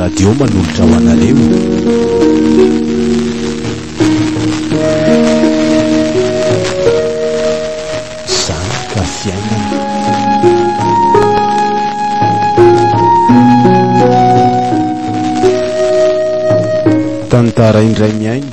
radio manolotra ho anareo zany ka fiainana tantara indray miaino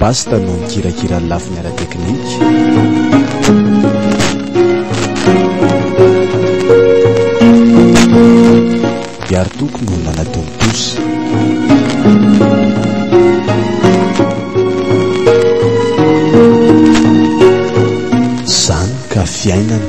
Basta no mikirakira ny lafiny ara-teknika. Biartoko no nanatontosa. Zany ka fiainana.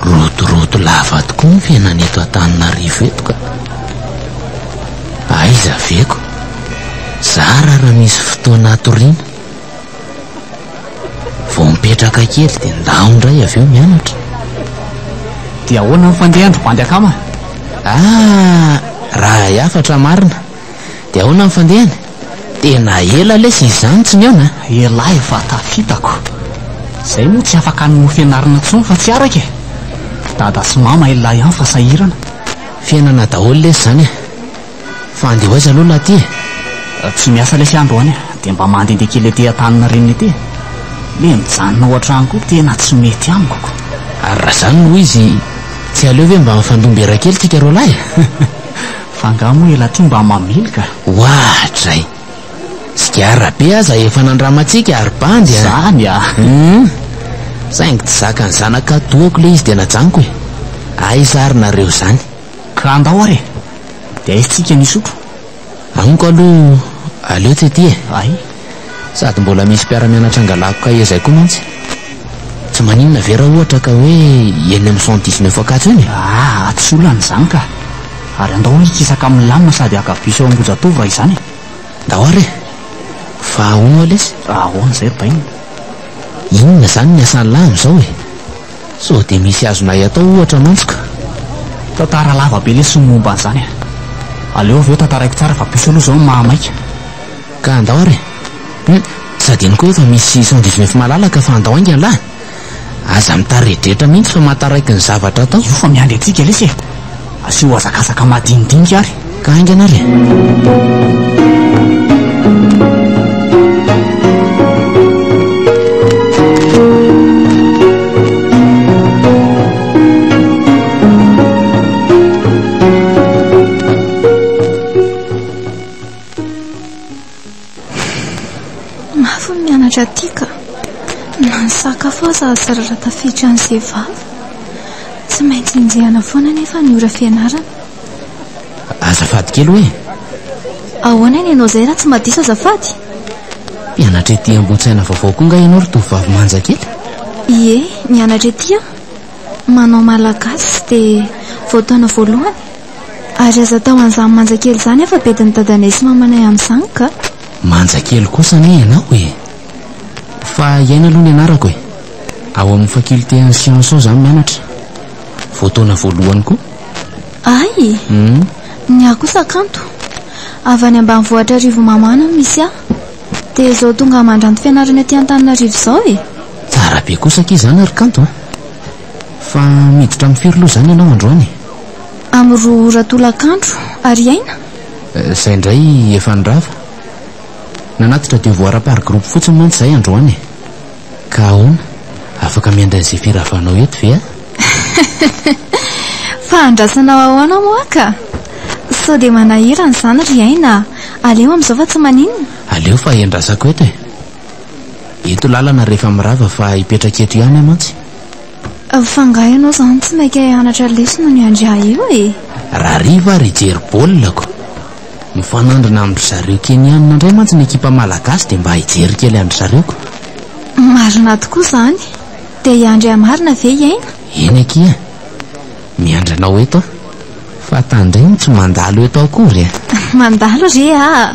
Rodorodo lava tokoa ny fiainana eto Antananarivo eto ka. Aiza aveko? Zara raha misy fotoana hatoriana. Vao mipetraka kely dia ndaho indray avy eo mianatra. Dia ahoana ny fandehan-dry bandy akama? Ah, raha hay hafatra marina. De ahoana ny fandehany? Tena ela lesy izany tsy nihaona a! Elah efa tafitako. Zay moa tsy afaka any no fianarana tsony fa tsy araka e! Dada sy mama elah ihany fa sahirana. Fiainana daholo lesy zany e! Fa andeha ho aiza aloha lahy ty e? Tsy miasa lesy ah androany a! De mba mandende kely ety antaninarena ety e! Le mijanona ao antrano koa tena tsy mety amiko ko! Ary raha zany no izy tsy aleo ve mba mifandom-bera kely tsika roalahy e? Fa angaha moa elatr'io mba mamely ka. Oahat'izay. Sigara be aza efa nandramantsika ry bandy a! Izany a! Humm. Saingy tsy zakan'ny zanak'Atoako ilay izy dia najanoko e! Aiza ary nareo izany? Ka andao ary e! Dia aizintsika ny hisotro. Amiko aloha aleo tsy ety e! Hay. Sady mbola misy mpiara-mianatra angalako kahie zay koa mantsy. Tsy maninona ve raha ohatra ka hoe eny amin'ny cent dix neuf Ankatso eny e? Aa, tsy olana izany ka. Ary andao hoe hikisaka amin'ny lamina sady haka bus ao Ambohijatovo raha izany e. Ndao ary e! Fa ahoana ho'a lesy? Ahoana izay ry Bainina? Inona izany ny asan'lah amin'izao e? Sao dia misy azonay atao ohatra mantsy ka. Tantara lava be lesy ny momba an'izany a. Aleo avy eo tantaraiko tsara fa bus aloha izao no maha maika. Ka andao ary e! Hum! Tsy adinoko hoe efa misy cent dix neuf malalaka fa andao hainga lah! Aza mitaredretra mihitsy fa mahataraiky ny zavatra atao. Io fa miandry antsika lesy e! Asio hazakazaka madinidinika ary. Ka haingana ary e! Mafy ny mianatra aty ka. Na ny sakafo aza azo rarà tafiditra an'izay vava. Tsy maintsy enjehana foana anefa ny ora fianarana. Azafady kely hoe. Ahoana ny anao izay raha tsy madiso azafady? Mpianatra ety Ambohitsaina vaovao koa nga ianao ry tovovavy manja kely? Ie, mianatra ety aho. Manao malagasy dia vao taona voalohany. Ary aza atao an'izany manja kely izany aho fa bedin'i dadanay sy mamanay amin'izany ka! Manja kely kosa anie ianao e! Fa iaina aloha ny anarako e! Ao amin'ny faculté an'ny sciences ao izaho mianatra. Vao taona voalohany koa. Hay! Ny ahy kosa kanto. Avy any ambanivohitra Rivomamana no misy ahy. Dia izao tonga mandranto fianarana aty Antananarivo izao e! Tsara be kosa akia izany ry kanto a! Fa miditra amin'ny firy loha izany ianao androany? Amin'ny roa ora tolakandro, ary aina? Izay indray efa nirava. Nanatitra devoara par groupe fotsiny mantsy izahay androany e. Ka ahoana, afaka miandry an'izay firavanao eto ve aho? Fa andrasanao ahoana moa ka? Sao dia manahirana izany ry aina a! Aleo amin'izao fa tsy maninona? Aleo fa iandrasako eto e. Eto lalana rehefa mirava fa hipetraka eto ihany aho mantsy. Fa angaha ianao izany tsy maika hianatra lesona ny andrià io e? Rahariva ary hijery baolina-ko. Mifanandrina amin-dry zareo Keniana indray mantsy ny ekipa malagasy dia mba hijery kely an-dry zareo ko. Marina tokoa izany. Dia i Andrià marina ve i Aina? Eny akia. Miandry anao eto aho. Fa tandremo tsy mandalo eto akory e! Mandalo re aa!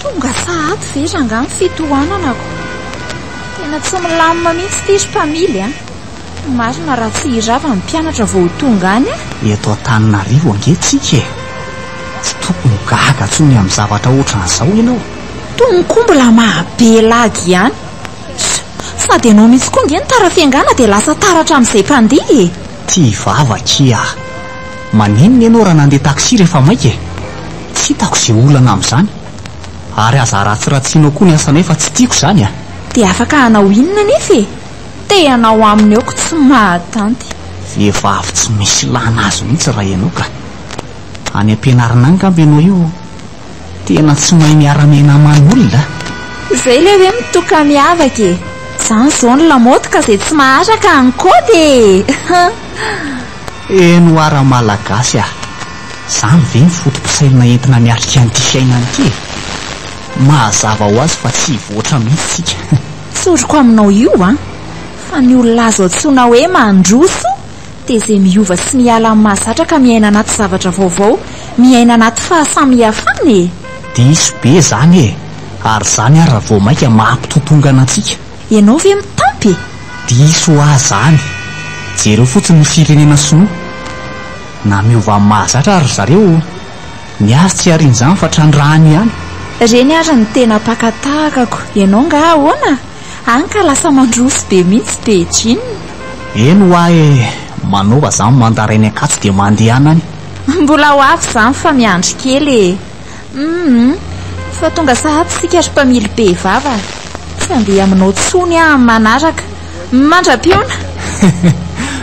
Tonga sahady ve rangahy ny fitohananako? Tena tsy milamina mihitsy ity ry mpamily a! Marina raha tsy hirava ny mpianatra vao ho tonga any a! Eto Antananarivo ange tsika e! Tsy tokony gaga intsony amin'ny zavatra ohatran'izao ianao. Tony koa mbola maha be lagy ihany! Sady ianao mihitsy koa ange ny tara fiangana dia lasa taratra amin'izay mpandeha e! Tia vava akia ah! Maninona ianao raha nandeha taxi rehefa maika e? Tsy hitako izay olana amin'izany. Ary aza aratsiratsianao koa ny asanay fa tsy tiako izany ah! Dia afaka hanao inona anefa e! Te hanao aminy aoko tsy mahatanty. Vehivavy tsy misy ilàna azy mihitsy raha ianao ka! Any am-pianarana any angamba ianao io? Tena tsy mahay miara-miaina aman olona a! Zay ilay hoe mitoka miavaka e! Zany zao ny lamaody ka zay tsy maharaka any koa dia. Eno ara malagasy a! Zany ve ny foto-pisainana entina miatrika an'ity fiainana ity e! Mahazava ho azy fa tsy hivoatra mihitsy tsika. Tsoriko aminao io an! Fa ny olona azo antsoina hoe mandroso Teze miova sy miala amin'ny mahazatra ka miaina anaty zavatra vaovao, miaina anaty fahasamihafana e! Diso be zany e! Ary zany ara vao maika mampitotongana antsika. Ianao ve mitampy e? Diso hoa zany! Jereo fotsiny ny firenena sinoa! Na miova amin'ny mahazatra ary ry zareo, ny azy tsy harian'izany fa trandrahany ihany. Reny ary ny tena mpaka tahakako, ianao nga ahoana? Any ka lasa mandroso be mihitsy Beijing. Eny hoa e, manaova zany mandarin ny Ankatso dia mandehana any. Mbola ho avy izany fa miandry kely e. Humm, fa tonga sahady isika ry mpamily be vava. Tsy handeha aminao intsony aho amin'ny manaraka. Mandra-piona!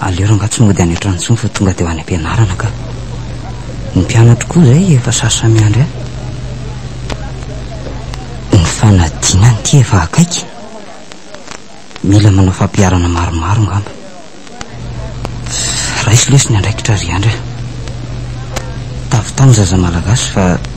Aleo ranga tsy mody any an-trano intsony fa tonga dia ho any am-pianarana ka. Ny mpianatro koa izay efa sasa miandry ahy. Ny fanadinana ity efa akaiky. Mila manao fampiharana maromaro angamba. Raiso lesy ny andraikitra ry Andry a. Tavy tany zaza malagasy fa.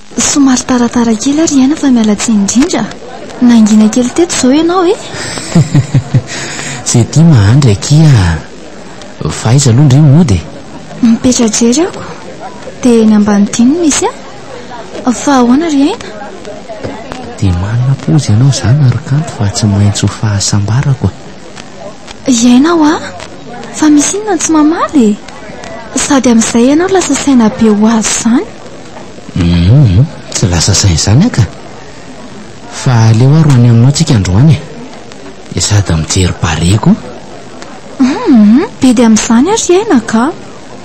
Somary taratara kely ary aina fa miala tsiny indrindra. Nangina kely teto izao ianao e. Zay tia mahandry akia Fa aiza aloha ndry mody e? Mipetra-jery aho ko. Dia eny ambany dihy no misy ahy. Fa ahoana ry aina? Dia manana pozy ianao izany ary kanto fa tsy maintsy ho fahasambarako a! I aina hoa! Fa misy inona no tsy mamaly e? Sady amin'izay ianao lasa saina be ho azy izany. Humm tsy lasa sain zany ah ka! Fa aleo aho ro any aminao tsika androany e! Dia sady mijery barea koa! Humm be dia amin'izany ary aina ka!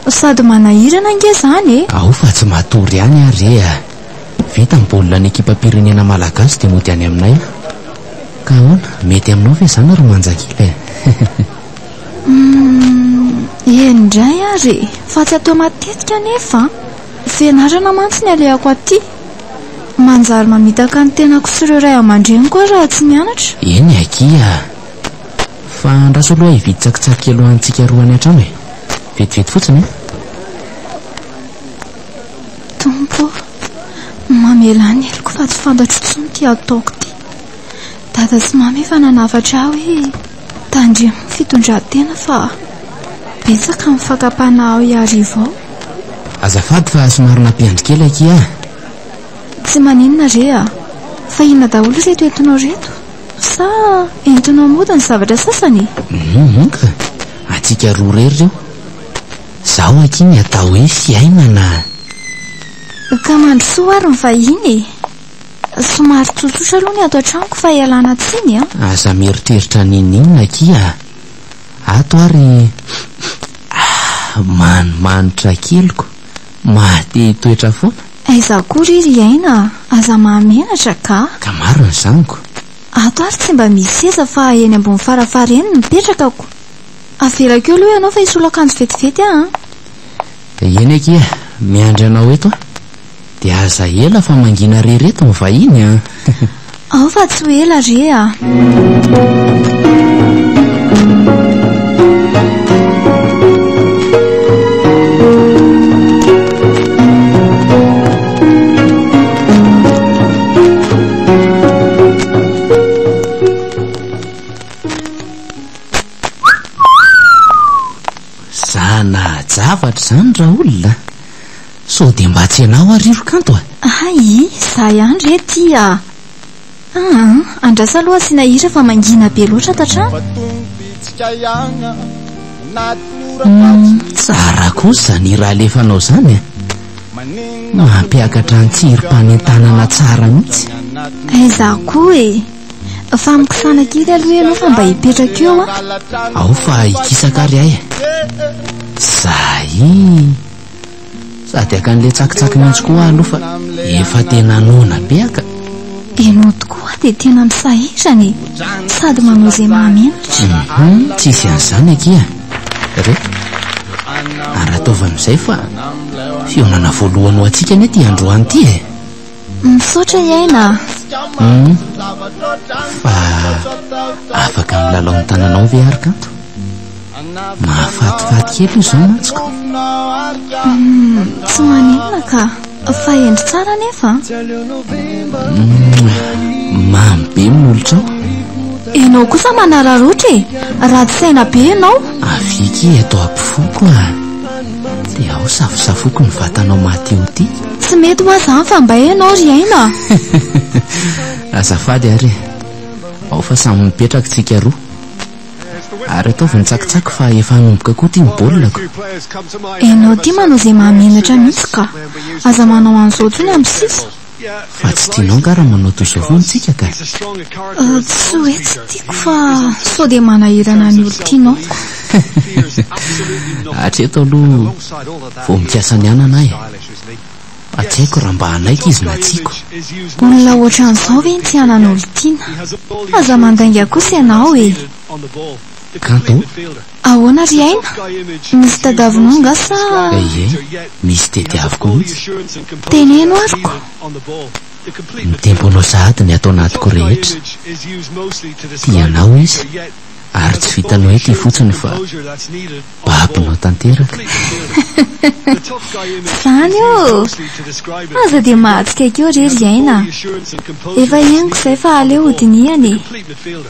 Sady manahirana ange zany e! Ao fa tsy matory ihany ah re ah! Vita ny baolina ny ekipam-pirenena malagasy dia mody any aminay aho! Ka ahoana, mety aminao ve izany ry Manjakila e! Humm eny indray ary e! Fa tsy atao matetika anefa an! Fianarana mantsy ny alehako aty. Manjary mamitaka ny tenako sy ireo ray aman-dreniko aho raha tsy mianatra. Eny akia a! Fa andraso aloha hividy tsakitsaky kely ho antsika roa any an-trano e! Vetivety fotsiny e! Tompo ô! Mamelà ny heloko fa tsy fantatro intsony ity ataoko ity. Dada sy Mamy efa nanafatra ahy hoe. Tandremo ny fitondran-tena fa betsaka ny fakam-panahy ao Iarivo ao. Azafady fa somary nampiandry kely akia a! Tsy maninona re a! Fa inona daholo ireto entinao ireto? Sa entinao mody ny zavatra sasany e? Hum ka! Antsika roa irery ireo. Izaho akia ny atao hoe fiainana a! Ka mandrosoa ary ny vahiny e! Somary tsotsotra aloha ny ato an-tranoko fa ialana tsiny an! Aza mieritreritra an'inon'inona akia a! Ato ary manimanitra keliko, mahate hitoetra foana. Aiza koa re ry aina a! Aza mahamenatra ka! Ka maro ny zanako. Ato ary tsy mba misy seza fa eny ambony farafara eny no mipetrakako. Avelako eo aloha ianao fa hisolo akanjo vetivety aho an! Eny akia, miandry anao eto aho. Dia aza ela fa mangina re reto ny vahiny an! Ao fa tsy ho ela re a! Za nahajavatra izany raolona a! Sao dia mba tsy ianao ary io ry Kanto a! Aii, za ihany re ty a! Aa, andrasa aloha asiana hira fa mangina be loatra ato an-trano. Umm, tsara kosa izany hira alefanao izany a! Mampiakatra an-tsirim-panentanana tsara mihitsy. Aiza koa e! Fa amikisana kely aloha ianao fa mba hipetraka eo an! Ao fa hikisaka ary ahy e! Zay! Sady hakan'ilay tsakitsaky mihitsy koa aho aloha fa efa tena noana be aka. Ianao tokoa dia tena misahirana e. Sady manao izay mahamenatra. Mhm, tsy hisy an'izany akia. Re, ary ataovy amin'izay fa fihaonana voalohany ho antsika anie ity androany ity e. Misaotra i Aina a. Hum, fa afaka milalao ny tananao ve ary kanto? Mahafatifaty kely io izao mantsiko. Hum, tsy maninona ka, fa hendry tsara anefa. Hum, mamy be ny molotrao. Ianao kosa manararotra e, ratsy saina be ianao. Aviky eto ampifoko a. Dia ao safosafoko ny vatanao Matio ty. Tsy mety hoa zany fa mba enao ry aina. Azafady ary e. Ao fa samy mipetraka tsika roa. Ary ataovy ny tsakitsaky fa efa hanomboka koa ty ny baolina ko. Enao ty manao izay mahamenatra mihitsy ka. Aza manao an'izao tsony amin'ny sisa. Fa tsy tianao angaha raha manao toy izao foana tsika ka? Tsy hoe tsy tiako fa sao dia manahirana ny olon-tianao. Hatreto aloha vao mikasa ny hanana ahy fa tsy haiko raha mba hanaiky izy na tiako. Olona ohatran'izao ve no tsy hanana olon-tiana? Aza mandainga kosa ianao e! Kanto. Ahoana ry Aina? Nisy tadiavinao nga sa? Ehe, nisy tediaviko mihitsy. Teneno ary ko! Ny temponao sahady ny ato anatiko rehetra. Tia anao izy, ary tsy vitanao eto ifotsiny fa babonao tanteraka. Izany ô! Aza dia mahatsikaiky eo re ry Aina a! Efa henoko izay fa aleo ho dinihana e!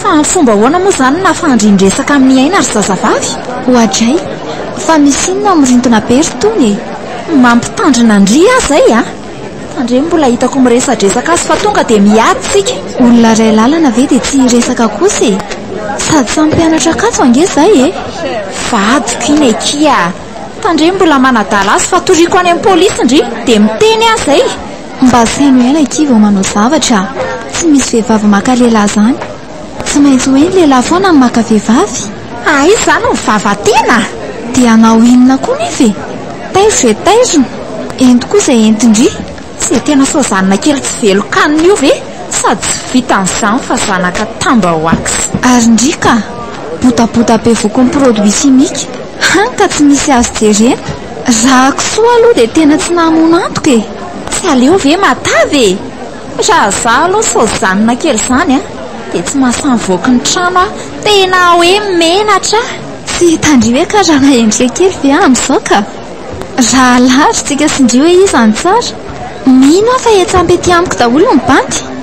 Fa amin'ny fomba ahoana moa izany no nahafahan-dry niresaka amin'i Aina ry zazavavy? Oadray! Fa misy inona ao mirintina be ry Tony e? Mampitandrina an-dry aho izay a! Tandremo mbola hitako miresadresaka azy fa tonga dia miady isika. Olona iray lalana ve dia tsy hiresaka kosa e? Sady samy mpianatra Ankatso ange izay e! Vadiko iny akia! Tandremo mbola manadala azy fa toriako any amin'ny polisy ndry dia miteny aho izay! Mba feno aina akia vao manao zavatra a! Tsy misy vehivavy maka lehilahy zany! Tsy maintsy hoe ny lehilahy foana no maka vehivavy? Aiza zany ny vava tena? Dia hanao inona koa nefa e! Taizo izay taizony, ento koa izay entin-dry! Tsy tena sazanina kely tsy velon-kanina io ve? Sady tsy vitan'izany fa zanaka tamba ho ax! Ary ndry ka! Botabota bevoky ny produits chimiques, hany ka tsy misy azo jerena! Raha kisoa aloha dia tena tsy nahamono antoka e! Tsy aleo ve matavy e! Raha izaho aloha sojanina kely izany an, dia tsy mahasamboky ny trano aho. Tena hoe menatra aho. Tsy hitandria hoe karana endrika kely ve aho amin'izao ka! Raha alarintsika sy indrio hoe iza no tsara? Mino aho fa etsy ampy ety amiko daholo ny bandy.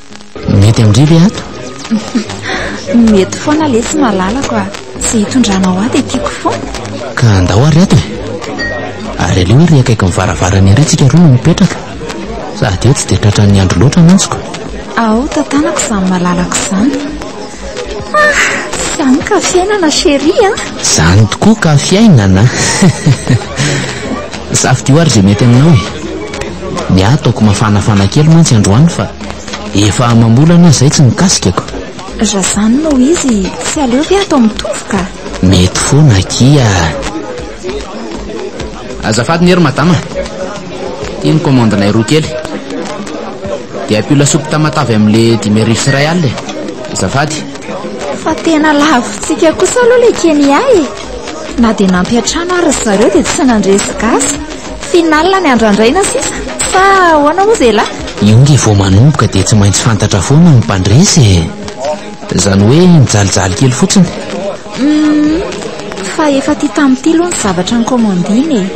Mety amindry ve ato? Mety foana le tsy malalako a. Tsy hitondranao ato dia tiako foana. Ka andao ary ato e. Ary aleo ary akaiky ny varavarana ery tsika roa no mipetraka. Sady eo tsy dia tratran'ny andro loatra mantsiko. Ao tantanako izany malalako izany. Izany ka fiainana chérie a! Izany tokoa ka fiainana! Safidio ary izay mety aminao e! Ny ahy ataoko mafanafana kely mantsy androany fa efa amam-bolana izay tsy nikasikako. Raha izany no izy, tsy aleo ve atao mitovy ka? Mety foana akia! Azafady nge ry madama a! Ity ny commande nay roa kely. Dia ampio lasopy tamatave amle dimy arivo sy iray alina e! Azafady. Fa tena lavintsika kosa aloha le Kenya e! Na dia nampy hatrany ary ry zareo dia tsy nandresy gasy. Final ny andrandraina sisa sa ahoana moa zelahy? Io nge vao manomboka dia tsy maintsy fantatra foana ny mpandresy e! Izany hoe mijalijaly kely fotsiny? Hum, fa efa aty tamin'ny ity aloha ny zavatra nikomandiana e.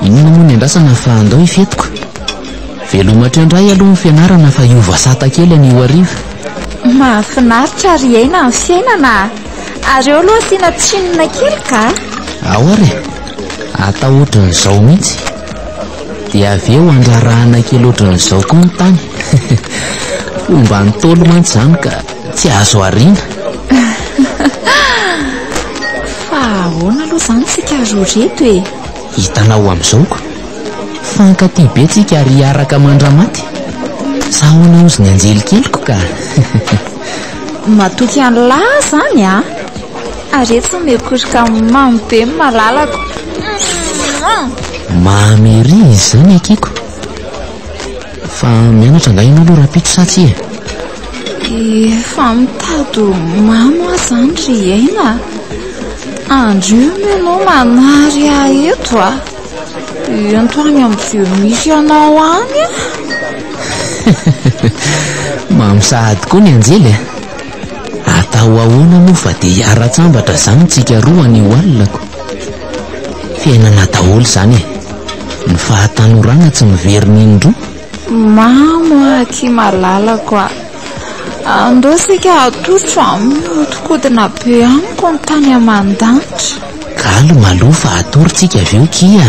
Inona moa ny andrasana fa andao ifetiko? Veloma hatrendray aloha ny fianarana fa hiova sata kely anio hariva. Mahafinaritra ary hiaina ny fiainana a! Ary eo aloha asiana tsinona kely ka! Aory e! Atao ohatran'izao mihitsy. Dia avy eo handrarahana kely ohatran'izao koa ny tany. Fomba Ntaolo mantsy izany ka tsy azo ariana. Fa ahoana aloha izany tsika roa reto e? Hitanao amin'izao ko. Fankatia be tsika ary hiaraka mandra-maty. Sa ahoana hozy ny anjelikeliko ka. Matoky an'lah izany a! Ary etsy no miorokoroka mamy be ny malalako. Mamy ery izany akiko. Fa mianatra angaha ianao aloha rahampitso sa tsia e? Efa mitady ho mamy aho izany ry aina a. Andro io moa ianao manary ahy eto a. Ento any amin'izay misy anao any a. Mamy sahady koa ny anjely a. Atao ahoana moa fa dia hiara-tsambatra izany tsika roa any Walako? Fiainana daholo izany e! Ny fahatanorana tsy miverina indroa. Mamo a, aky malalako a! Andao isika atosotro amin'ny mihodinkodina be amiko ny tany aman-danitra. Galy malou fa atory tsika avy eo kia!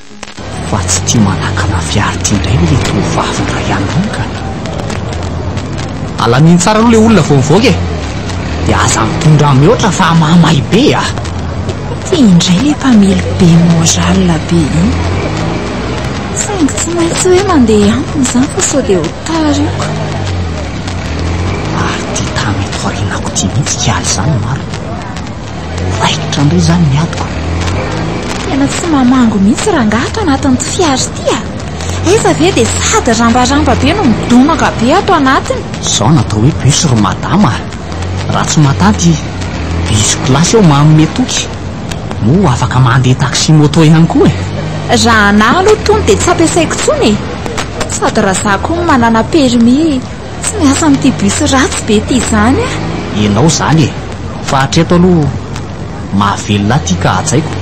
Fa tsy tia manakana fiarty indray ve le tovovavy indray andro ka? Alamino tsara aloha le olona vao mivoaka e! De aza mitondra mihoatra fa mahamay be a! Ty indray le mpamely be moral be iny. Saingy tsy maintsy hoe mandeha aminy izany fa sao dia ho tara io ka. Ary ty tany eto aorianako ty mihitsy ka izany marina. Raikitra ndray izany ny adiko. Tena tsy mamango mihitsy rangahy ato anatin'ity fiara ity a! Aiza ve dia sady rambaramba be no midonaka be ato anatiny. Izao no atao hoe bus ry madama a! Raha tsy matanty bus place eo manome toky. Moa afaka mandeha taxi moto ihany koa e! Raha anah aloha tony dia tsy ampiasaiko intsony e! Sady raha za koa manana permis. Tsy miasa amin'ity bus ratsy be ity izany a! Ianao izany e! Fa hatreto aloha mahavelona ahy ity ka hajaiko.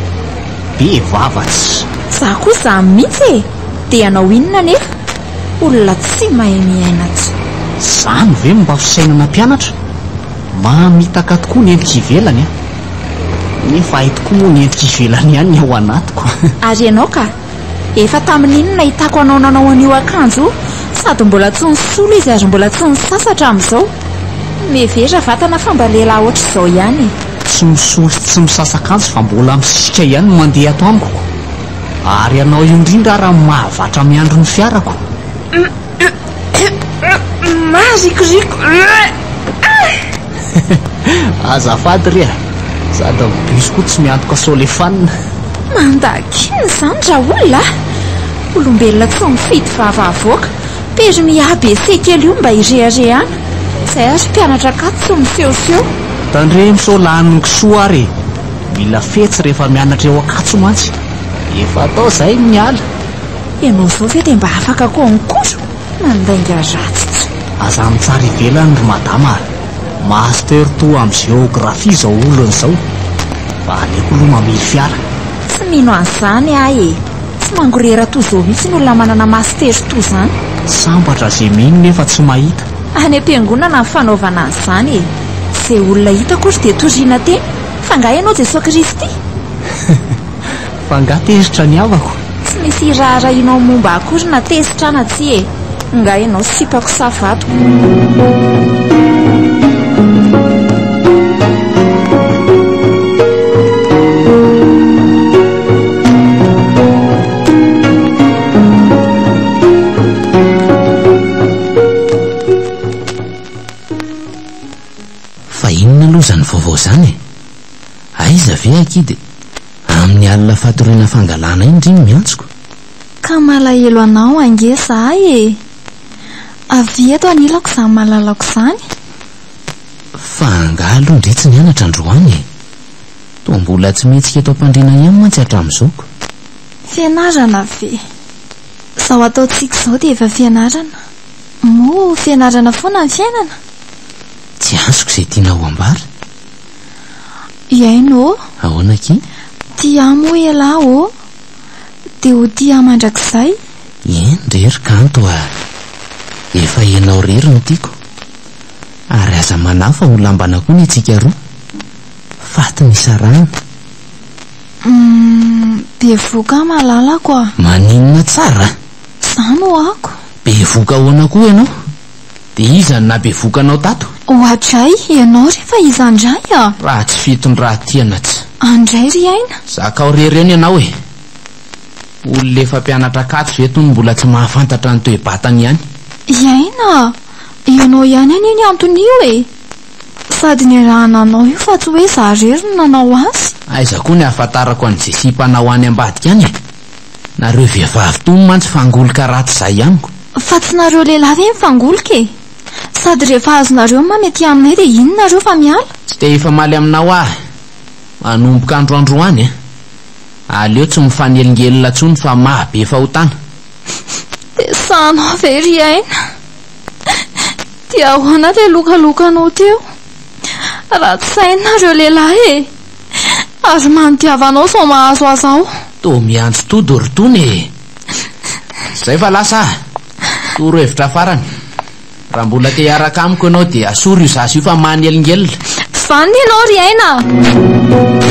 Be vava tsy. Za koa izany mihitsy e! Dia hanao inona anefa? Olona tsy mahay miaina tsy. Izany ve no mba fisainana mpianatra? Mamitaka tokoa ny endrika ivelany a! Nefa hay tokoa moa ny endrika ivelany ihany ny ao anatiko. Ary ianao ka? Efa tamin'iny nahitako anao nanao an'io akanjo io, sady mbola tsy nisolo izy ary mbola tsy nisasa hatramin'izao. Mihevera vatana fa mba lehilahy hoatr'izao ihany e! Tsy misolo sy tsy misasa akanjo fa mbola misisika ihany no mandeha ato amiko. Ary ianao indrindra ary no mahavatra miandry ny fiarako. Marikoriko. Azafady re a. Sady ny bus koa tsy miantoka solefanina. Mandaky inona izany raolona a? Olombelona tsy mifidy vava avoaka. Permis ABC kely io mba ireharehana. Izay ary mpianatra akato tsy misehoseho. Tandremo sao lanin'ny kisoa ary e. Mila fetsy rehefa mianatra eo Ankatso mantsy. Efa atao izay ny miala. Ianao izao ve dia mba afaka koa mikotra? Mandainga ratsy tsy. Aza mitsara ivelany ry madama a! Master toa amin'ny géographie izao olona izao. Mba aleoko aloha mamily fiara. Tsy mino an'izany aho e! Tsy mangorera toa izao mihitsy ny olona manana master toa izany. Sambatra izay mino nefa tsy mahita. Any am-piangonana ny fanaovana an'izany e! Izay olona hitako ry dia toriana teny, fa angaha ianao Jesoa Kristy? Fa nga tezitra ny havako? Tsy misy hiraharahianao momba akory na tezitra na tsia e! Nga ianao sipako sa vatoko? Fa inona aloha izany vaovao izany e? Aiza ve akia dia. Amin'ny alina fatoriana fangalana iny ry ny miantsoko. Ka malahelo anao ange za e! Avia eto anilako izany malalako izany. Fa angaha aloha ndry tsy nianatra androany e! Toa mbola tsy mihetsika eto am-pandriana ihany mantsy hatramin'izao ko. Fianarana ve? Izao ataontsika izao dia efa fianarana. Moa fianarana foana ny fiainana? Tsy azoko izay tianao ho ambara. Hiaino ô! Ahoana akia? Tia ahy moa ialahy ô! Dia ho tia ahy mandrakizay? Eny re ry kanto a! Efa ianao irery no tiako. Ary aza manahy fa ho lambana koa ny antsika roa. Faty ny sarahana. Hum, bevoka aho malalako a! Maninona tsara a! Za no ako. Bevoka ahoana koa ianao? Dia iza no nabevoka anao tato? Oadray, ianao re fa iza ndray a? Raha tsy fitondran-tiana tsy. Andray ry aina. Zakao rery eo ny anao e! Olona efa mpianatra Ankatso ve itony mbola tsy mahafantatra ny toe-batany ihany? I aina a! Ianao ihany anie ny anton'io e! Sady niarahana anao io fa tsy hoe za rery no nanao azy. Aiza koa ny ahafantarako an'i Jessie mpanao any ambadika any e! Nareo vehivavy tony mantsy fangoloka ratsy zay amiko. Fa tsy nareo lehilahy ve mifangoloka e? Sady rehefa azonareo mamy aty aminay dia iny nareo fa miala? Tsy te hifamaly aminao aho manomboka andro androany a! Aleo tsy mifanelingelina tsony fa maha be fahotana. Dia sahanao ve ry aina? Dia ahoana ilay lokalokanao teo? Ratsy saina nareo lehilahy e! Aza manodiavanao sao mahazo azy ao. Toa miantso todo ry Tony e! Izay fa lasa aho. Torohevitra farany. Raha mbola te hiaraka amiko ianao dia asoro io zaza io fa manelingelina. Vanona ianao ry aina a!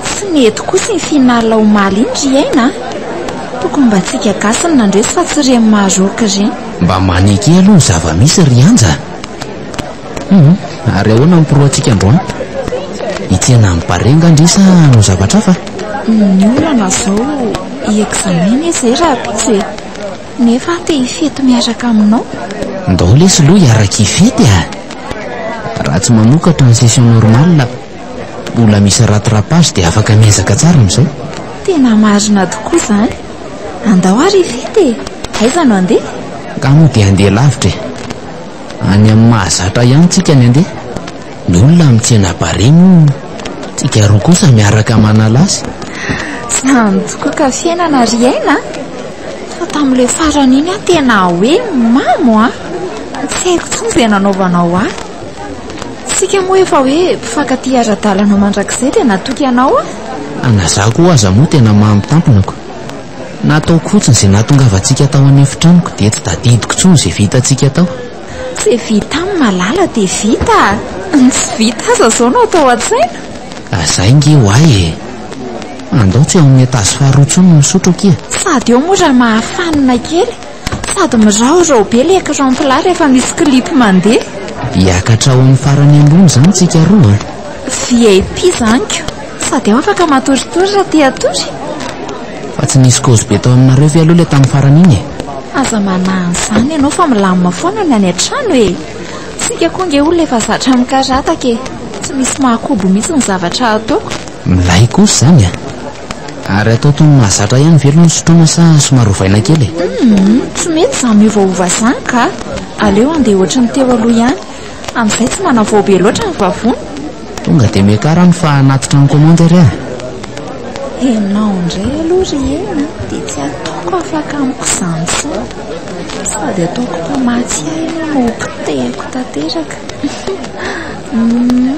Tsy mety kosa iny finale omaly iny ry aina a. Tokony mba antsika gasy no nandresy fa tsy ireny Maroc ireny. Mba maneke aloha ny zava-misy ry Anja a. Hum, ary ahoana ny pro-ntsika androany? Hitsena amin'ny Barea angaha ndry sa hanao zavatra hafa? Ny olana izao i examen anie izay raha pitsy e. Nefa aho te hifety miaraka aminao. Ndao lesy lo hiaraka hifety a! Raha tsy mamokatra ny session normale, mbola misy rattrapage dia afaka miezaka tsara amin'izay. Tena marina tokoa izany. Andao ary hifety e! Aiza no handeha? Nga moa dia handeha lavitra e! Any amin'ny mahazatra ihany tsika ny handeha. Ny olona mitsena barea moa tsika roa kosa miaraka manala azy. Tsy nandry tokoa ka fiainana ry aina a! Fa tamin'ilay farany iny aho tena hoe mamo a! Tsy haiko intsony izay nanaovanao ahy. Isika moa efa hoe mpifankatia ara-dalana mandrakizay dia natoky anao aho. Fa na izaho koa aza moa tena mamo tamponako. Nataoko fotsiny izay nahatongavantsika tao an'efitranoko dia tsy tadidiko intsony izay vitantsika tao. Izay vita amin'ny malala dia vita a! Ny tsy vita aza izao no atao an-tsaina! Zay nge oay e! Andao tsy eo amin'ny etazy faharoa intsony no misotro akia! Sady eo moa raha mahafanina kely! Sady miraorao be ilay ecran plat rehefa misy clip mandeha! Hiakatra ho amin'ny farany ambony izany tsika roa a! VIP izany ko! Sady aho afaka matoritory raha te hatory. Fa tsy nisy kozy be tao aminareo ve aloha ilay tamin'ny farany iny e? Aza manahy an'izany ianao fa milamina foana ny any an-trano e! Isika koa ange olona efa zatra mikarataka e! Tsy misy mahakobo mihitsy ny zavatra ataoko. Milay kosa izany a! Ary atao toy ny mahazatra ihany ve aloha ny sotroina sa somary ovaina kely e? Humm, tsy mety izany miovaova izany kah! Aleo andeha ohatry ny teo aloha ihany. Amin'izay tsy manavao be loatra ny vavony. Tonga dia miakara any fa hanatitra ny commande ary aho. Ianao indray aloha ry Hena dia tsy ataoko afaka amiko izany intsony. Sady ataoko mpamatsy ahy ianao no ho potehiko tanteraka. Hum.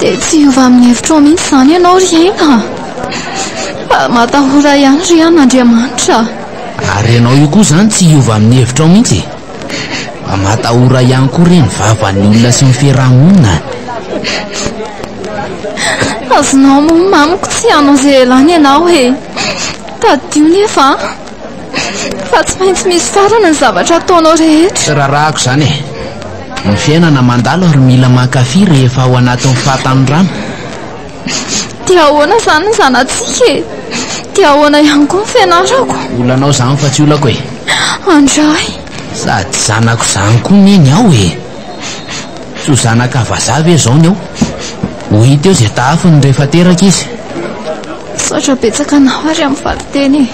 Dia tsy hiova amin'ny hevitrao mihitsy izany ianao ry aina a! Fa matahora ihany ry an' Andriamanitra a! Ary ianao io koa izany tsy hiova amin'ny hevitrao mihitsy e! Fa matahora ihany koa re ny vavan'ny olona sy ny fiaraha-monina a! Azonao mamiko tsy hanao izay ialany ianao e! Tadidio nefa a! Fa tsy maintsy misy farany ny zavatra ataonao rehetra. Tsy rarahako izany e. Ny fiainana mandalo ary mila mankafy rehefa ao anatin'ny fahatanorana. Dia ahoana izany ny zanatsika e? Dia ahoana ihany koa ny fianarako? Olanao izany fa tsy olako e. Andray. Sady zanako izany koa neny aho e. Tsy ho zanaka vazaha ve izao ny eo? Ho hita eo izay tahafiny rehefa teraka izy. Misaotra betsaka anao ary amin'ny valinteny e.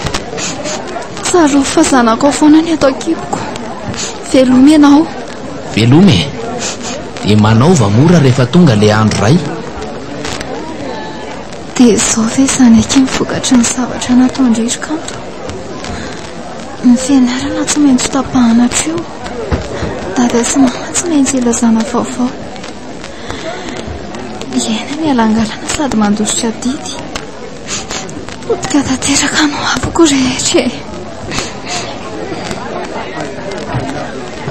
Tsarovy fa zanakao foana ny eto an-kiboko. Veloma ianao. Veloma e. Dia manaova mora rehefa tonga ilay andro iray. Dia izao ve izany akia ny vokatry ny zavatra nataon-dry ry kanto? Ny fianarana tsy maintsy tapahana hatreo. Dada sy mama tsy maintsy ilazana vaovao. Iaina ny alangalana sady mandositra didy. Potika tanteraka no avoko rehetra e.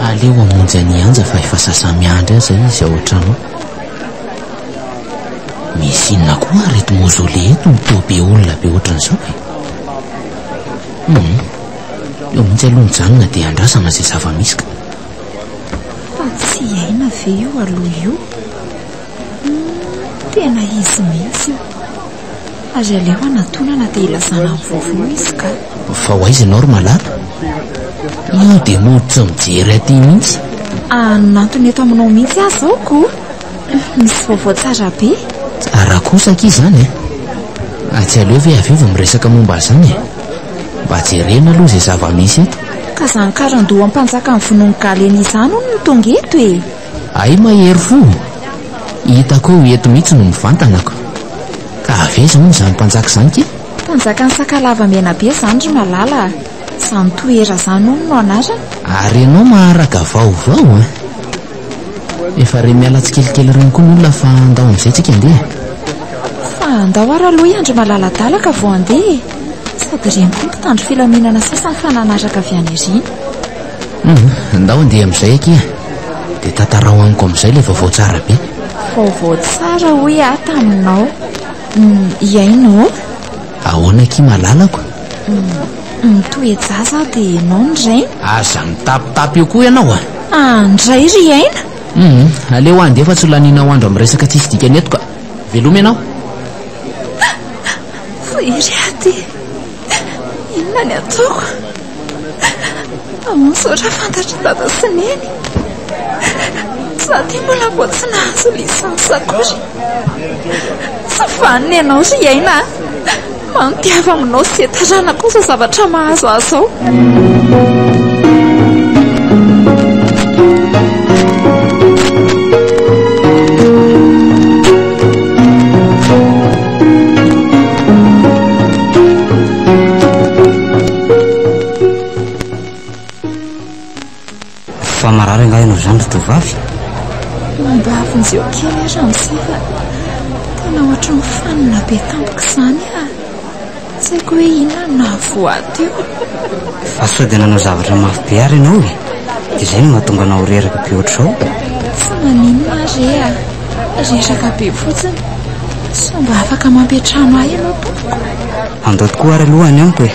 Aleo amonjy an'i Anja fa efa sasamiandry aza izy ao an-trano. Misy inona koa ary eto mozole eto no toa be olona be ohatran'izao e? Hmm. Eo mihitsy aloha mijanona dia andrasana izay zava-misy ka. Fa tsy aina ve io aloha io? Hmm, tena izy mihitsy io. Ary aleo anatonana dia ilazana ny vaovao izy ka. Fa ho aiza ianao ry malala? Io dia mody tsy mijery aty mihitsy. Anantona eto aminao mihitsy aho izao ko. Misy vaovao tsara be. Tsara kosa akia izany e. Eh? Atsy aleo ve avy eo vao miresaka momba izany e? Eh? Mba jerena aloha izay zava-misy eto. Ka izany karandoha mpanjakan'ny vonoan'i Galena izany hono no tonga eto e! Hay mahery fo! Hitako eo eto mihitsy no mivantanako. Ka avy aiza hono izany mpanjaka izany ke? Mpanjakan'i Sakalava Menabe izany ry Malala a! Izany Tohera izany hono no anarany. Ary ianao maharaka vaovao an! Efa re miala tsikelikely ireny koa ny olona fa andao amin'izay tsika andeha Fa andao ary aloha iandry malaladalaka vao andeha e. Sady ireny koa mpitandro filaminana sasany fa nanaraka avy any aoriana. Mhm, Andao andeha amin'izay akia Dia tantarao amiko amin'izay ilay vaovao tsara be Vaovao tsara hoy aho taminao. Hum, hihaino ô. Ahoana akia malalako? Mitohy ejaza aho dia ianao ny rainy. Aza mitapitapy eo koa ianao a! Ah, ndray ry aina! Hum, aleo andeha fa tsy ho lanianao andro amin'ny resaka tsisy dikany eto ka! Veloma ianao! Ry Hery a! Dia inona ny ataoko? Mpamosotra fantatry dada sy neny. Za ty mbola vao tsy nahazo lisansa akory. Tsy vanona ianao ry aina a. Mampiava aminao sy izay taranako izao zavatra mahazo ahy izao. Fa marary angaha ianao izany ry tovovavy? Mandavy ny zeo kely aho ramose fa tena ohatry ny fanina be tampoka izany a. Tsy haiko hoe inona no nahavoato io. Fa sao dia nanao zavatra mafy be ary ianao e. Dia izay no mahatonga anao reraka be ohatr'izao. Tsy maninona re a. Reraka be fotsiny. Sao mba afaka mampiantrano ahy ianao tompoko. Andao tokoa ary aloha any amiko e.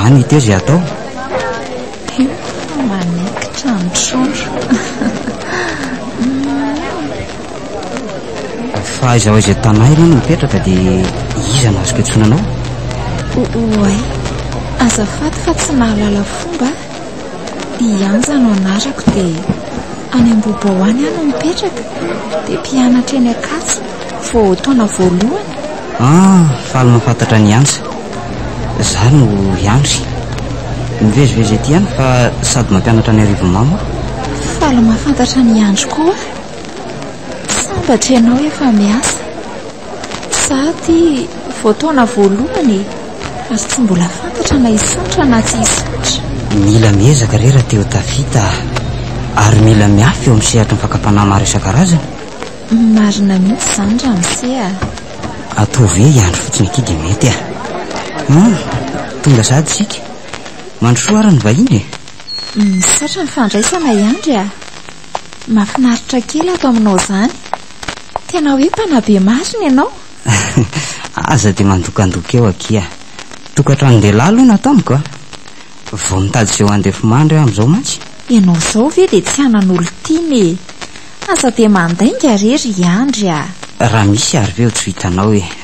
Any ity izay atao. Io manekitra ny trondro. Fa aiza ao izay tanà ianao no mipetraka dia iza no azoko iantsoana anao? Oay, azafady fa tsy nahalala fomba. I Anja no anarako dia any Ambohibao any aho no mipetraka dia mpianatra eny Ankatso vao taona voalohany. Ah, faly mahafantatra an'i Anja. Izaho no i Andry. Mivezivezy ety ihany fa sady mampianatra any Arivonimamo aho. Faly mahafantatra an'i Andry koa aho. Sambatra ianao efa miasa. Za ty vao taona voalohany e, ary tsy mbola fantatra na hisaotra na tsy hisaotra. Mila miezaka re rahateo tafita ah. Ary mila miafy eo amin'ny sehatry ny fakam-panahy maro isan-karazany. Marina mihitsy izany ramose ah. Atoa ve hiandry fotsiny aty dia mety ah. Hum, tonga sahady isika. Mandrosoa ary ny vahiny e. Misaotra ny fandraisana Yandry ah. Mahafinaritra kely ato aminao izany. Tena hoe mpanabe masina ianao. Aza dia mandokandoka eo akia. Tokantranon-dehilahy aloha no ataoniko a. Vao mitady izay ho handefimandry aho amin'izao mantsy. Ianao izao ve dia tsy anan'olon-tiana e. Aza dia mandainga re ry Andry a. Raha misy ary ve ho tsy ho hitanao e.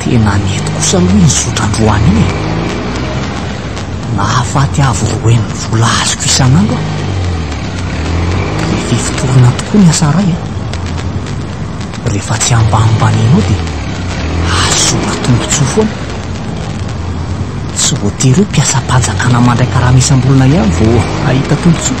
Tena nety kosa aloha iny zotra androany iny e! Nahafaty avo roa heny ny vola azoko isan'andro aho. Be fifotorana tokoa ny asa ray a! Rehefa tsy ambanimbanianao dia azo soa tombontsoa foana. Tsy voatery hoe mpiasam-panjakana mandray karama isam-bolana ihany vao hahita tombontsoa.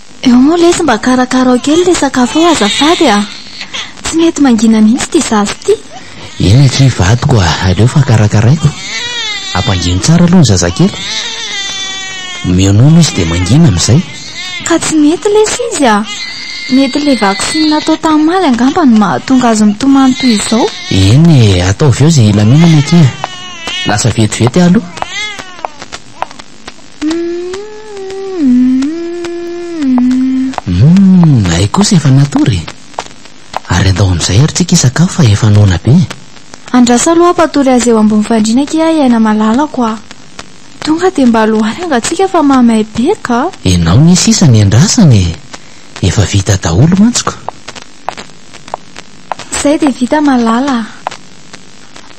Eo moa lesy mba karakarao kely ilay sakafo eo azafady a! Tsy mety mangina mihitsy ity zaza ity. Eny akia vadiko a! Aleo fa karakaraiko. Ampangino tsara aloha ny zazakely. Omeo nono izy dia mangina amin'izay. Ka tsy mety lesy izy a! Mety ilay vaksiny natao tamaly angamba no mahatonga azy mitomany toy izao. Eny e! Ataovy eo izay hilaminany akia. Lasa vetivety aho aloha. Hay kosa efa natory e. Ary andao amin'izay ary tsika hisakafo fa efa noana be e. Andraso aloha mpatory azy eo ambony fandriana akia ahy aina malalako a! Tonga dia mba aloany anga tsika fa mahamay be ka! Enao ne sisa ny andrasana e! Efa vita daholo mantsiko. Izay dia vita malala a!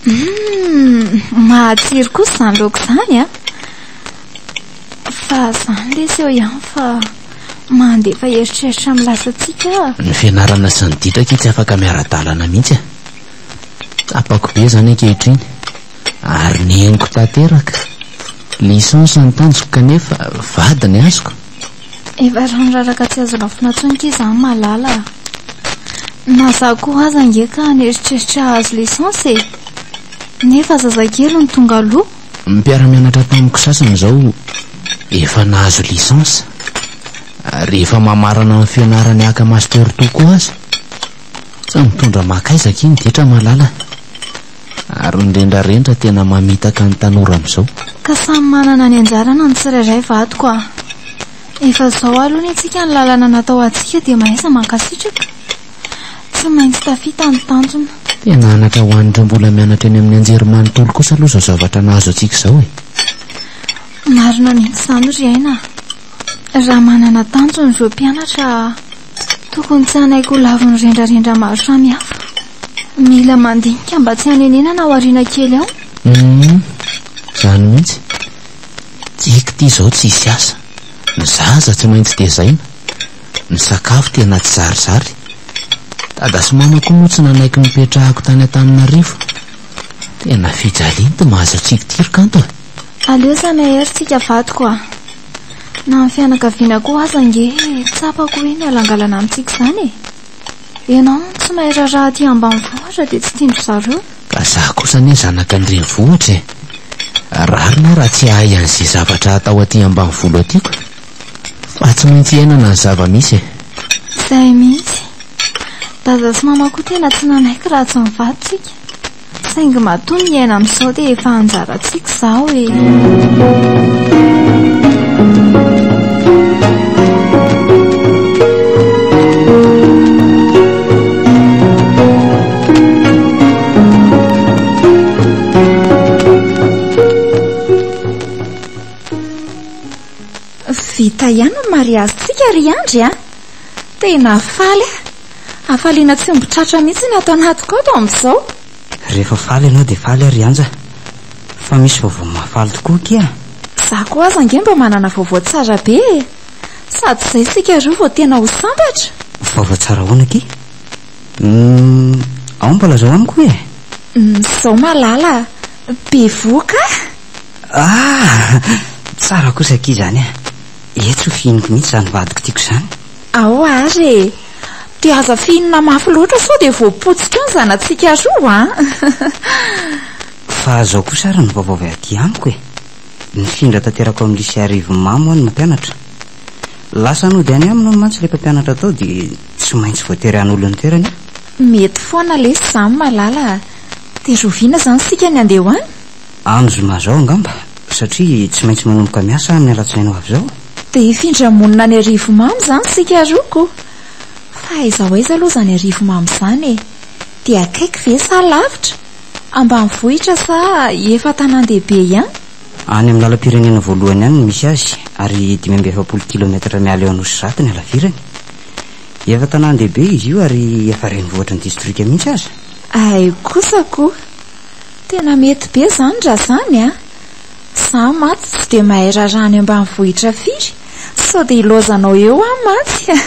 Hum, mahatsiry kosa izany laoka izany a. Fa izany lesy eo ihany fa mandefa eritreritra amin'ny lasantsika. Ny fianarana sy ny ditra akia tsy afaka miara-dalana mihitsy a. Tsapako be izany ankehitriny ary neniko tanteraka. Licence ny tanjoko kanefa vady ny azoko. Efa ranraraka tsy azo rafina intsony ky zany malala a! Na za koa aza ange ka an'eritreritra hahazo licence e! Nefa zazakely no tonga aloha! Ny mpiara-mianatra tamiko sasany izao efa nahazo licence ary efa mamarana ny fianarany haka master tokoa aza! Tsy mitondra makaiza akia ny ditra malala! Ary mirendrarendra tena mamitaka ny tanora amizao. Ka samy manana ny anjarana ny tsirairay vadiko a! Efa zao aloha ny antsika ny lalana natao atsika dia mahaiza mankasitraka! Tsy maintsy tafita ny tanjona. Tena anaka ho an'ireo mbola mianatra eny amin'ny anjerimanontolo kosa aloha izao zavatra nahazo antsika izao e! Marina mihitsy izany ry Aina a! Raha manana tanjona ireo mpianatra a! Tokony tsy hanaiky ho lavin'ny rendrarendra maro samihafa. Mila mandinika mba tsy hanenenana ao aoriana kely ao. Hum, izany mihitsy. Tiako ity izao tsisy asa. Ny zaza tsy maintsy tezaina. Ny sakafo tena tsy zarizary. Dada sy mama koa moa tsy nanaiky nipetrahako tany Antananarivo. Tena fijalianty mahazo antsika ity ry kanto a! Aleo samy ahery tsika vadiko a! Na ny fianakaviana koa aza ange tsapako hoe mihalangalana amintsika izany e. Ianao no tsy mahay raharaha aty ambanivohitra dia tsy tian-dry zareo. Ka za kosa anie zanaka ny renivohitra e. Rariny aho raha tsy hahay an'izay zavatra atao aty ambanivolo aty ko. Fa tsy maintsy iainana ny zava-misy e. Izay mihitsy. Dada sy mama koa tena tsy nanaiky raha tsy ny vadintsika. Saingy matoa miaina amin'izao dia efa anjarantsika izao e. Vita ihany ny mariazintsika ry Andry a! Tena faly aho. Hafaliana tsy omby tratra mihitsy ny ato anatiko ato amin'izao. Rehefa faly ianao dia faly ary Anja. Fa misy vaovao mahafaly tokoa akia a! Izaho koa aza ange mba manana vaovao tsara be e! Sady izay isika roa vao tena ho sambatra. Vaovao tsara ahoana akia? Hum, ao mba lazao amiko hoe e! Izao malala a! Bevohoka a! Ah! Tsara kosa akia izany a! Etsy ho fihiniko mihitsy izany vadiko tiako izany. Ao ary e! Dia aza fihinana mafy loatra sao dia voapotsika eo ny zanatsika roa an! Fa izao kosa ary ny vaovao avy aty amiko e! Nifindra tanteraka ao amin'ny Lycée Arivonimamo hono ny mpianatra. Lasa nody any aminy hono mantsy ilay mpampianatra tao dia tsy maintsy voatery hanolo ny toerany aho. Mety foana lesy izany malala a! Dia rahoviana izany isika ny handeha ho any? Andro zoma zao angamba satria tsy maintsy manomboka miasa aho amin'ny alatsinainy ho avy zao. Dia hifindra monina any Arivomamo izany isika roa ko! Fa aiza ho aiza aloha izany Arivomamo izany e? Dia akaiky ve sa lavitra? Ambanivohitra sa efa tanàn-dehibe ihany? Any amin'ny lalam-pirenena voalohany any no misy azy ary dimy amby efapolo kilaometatra miala eo Anosizato ny halavirany. Efa tanàn-dehibe izy io ary efa renivohitry ny distrika mihitsy aza. Hay kosa ko! Tena mety be zany ra zany a! Za matsy tsy de mahay raharaha any ambanivohitra firy, sao de ilaozanao eo aho matsy a!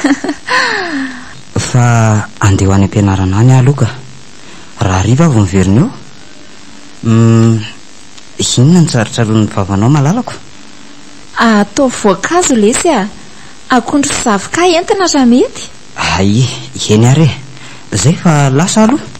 Fa andeha ho any am-pianarana any aho aloha ka! Raha hariva aho vao miverina eo? Uhm, inona no tsarontsaroan'ny vavanao malalako? Ataovy voankazo lesy a! Akondro sy zavoka entina raha mety? Aii, eny ary e! Zay fa lasa aho aloha!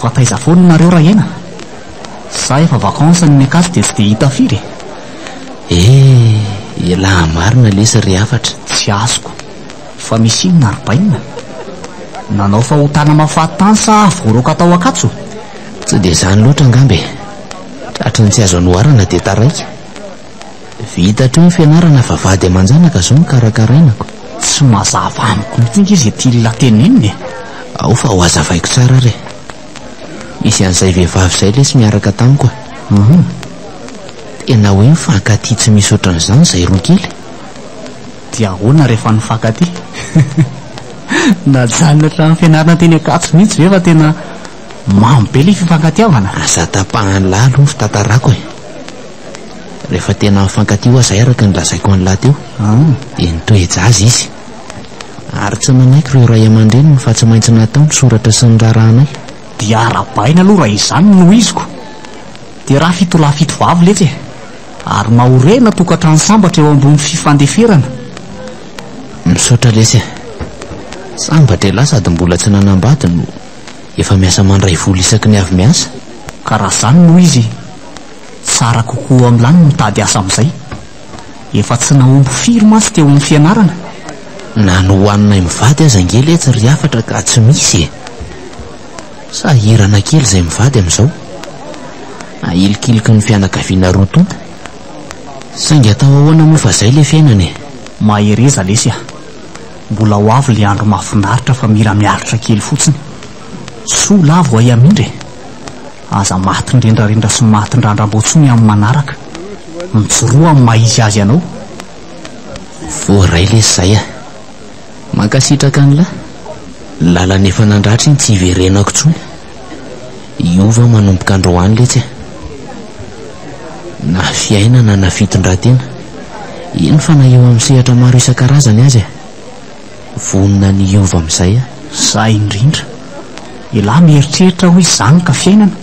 Fa taiza foana nareo Rahena? Za efa vacances ny Mekasy dia tsy dia hita firy e! Eh! Elah marina lesy ry hafatra. Tsy azoko fa misy inona ry Bainina? Nanao fahotana mafaty tany sa voaroaka tao Ankatso? Tsy dia izany loatra angamba e! Tratry ny tsy azo anoharana dia taraiky. Vita hatreo ny fianarana fa vady aman-janaka izao no karakarainako. Tsy mazava amiko mihitsy ange izay tian'la tenenina e! Ao fa ho azavaiko tsara ary e! Misy an'izay vehivavy izay lesy miaraka tamiko e! Hum! Tena hoe mifankatia tsy misy ohatran'izany izay roa kely e! Dia ahoana rehefa nifankatia? Najanony hatramin'ny fianarana teny Ankatso mihitsy ve fa tena mamy be ilay fifankatiavana? Aza tapahany lalo ny fitantarako e! Rehefa tena mifankatia ho'a izay araka ny lazaiko an'lah teo, dia nitoe-jaza izy. Ary tsy nanaiky ireo ray aman-dreniny fa tsy maintsy natao ny soratra sy ny raharahanay. Dia arabaina aloha raha izany no iziko. Dia raha fito lahy fito vavy letsy e! Ary mahorena tokantrano sambatra eo ambony fifandeferana. Misaotra lesy e! Sambatra elah sady mbola tsy nanambady no efa miasa mandray vola isaky ny avy miasa. Ka raha izany no izy. Tsara kokoa am lany mitady asa amizay. Efa tsy nahomby firy mantsy teo am fianarana. Na ny hohaninay mivady aza ange letsy ry hafatra ka tsy misy e! Sahirana kely izay mivady amin'izao. Ahilikiliky ny fianakaviana roa tonta. Saingy atao ahoana moa fa zay le fiainana e! Mahereza lesy a! Mbola ho avy le andro mahafinaritra fa mila miaritra kely fotsiny. Soa lahy vao hay hamindra e! Aza maty nrendrarendra sy maty ndrandrambao tsony amin'ny manaraka. Mijoroa amin'ny maha izy azy anao. Voaray lesy zay a! Mankasitraka anlah! Lalana efa nandratra iny tsy hiverenako tsony. Hiova manomboka androany letsy a! Na fiainana na fitondratena, eny fa na eo amin'ny sehatra maro isan-karazany aza e! Vonona ny hiova amin'izay aho. Zah indrindra. Elah mieritreritra aho hoe zany ka fiainana.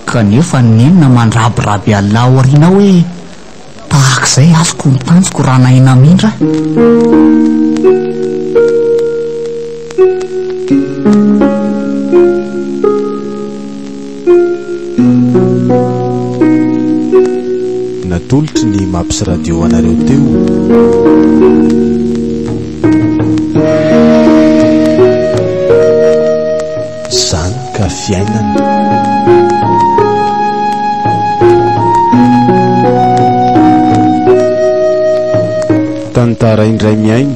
Kanefa nenina mandrabiraby Allah ao aoriana aho hoe tahak'izay azoko ny tanjoko raha nahay namindra aho. Natolotry ny Maps Radio ho anareo teo. Zany ka fiainana. Tantara indray mihaino.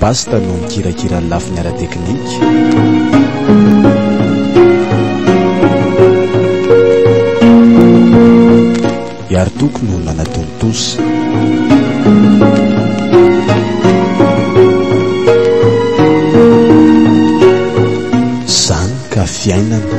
Basta no mikirakira ny lafiny ara-teknika. I Ary Toko no nanatontosa. Zany ka fiainana.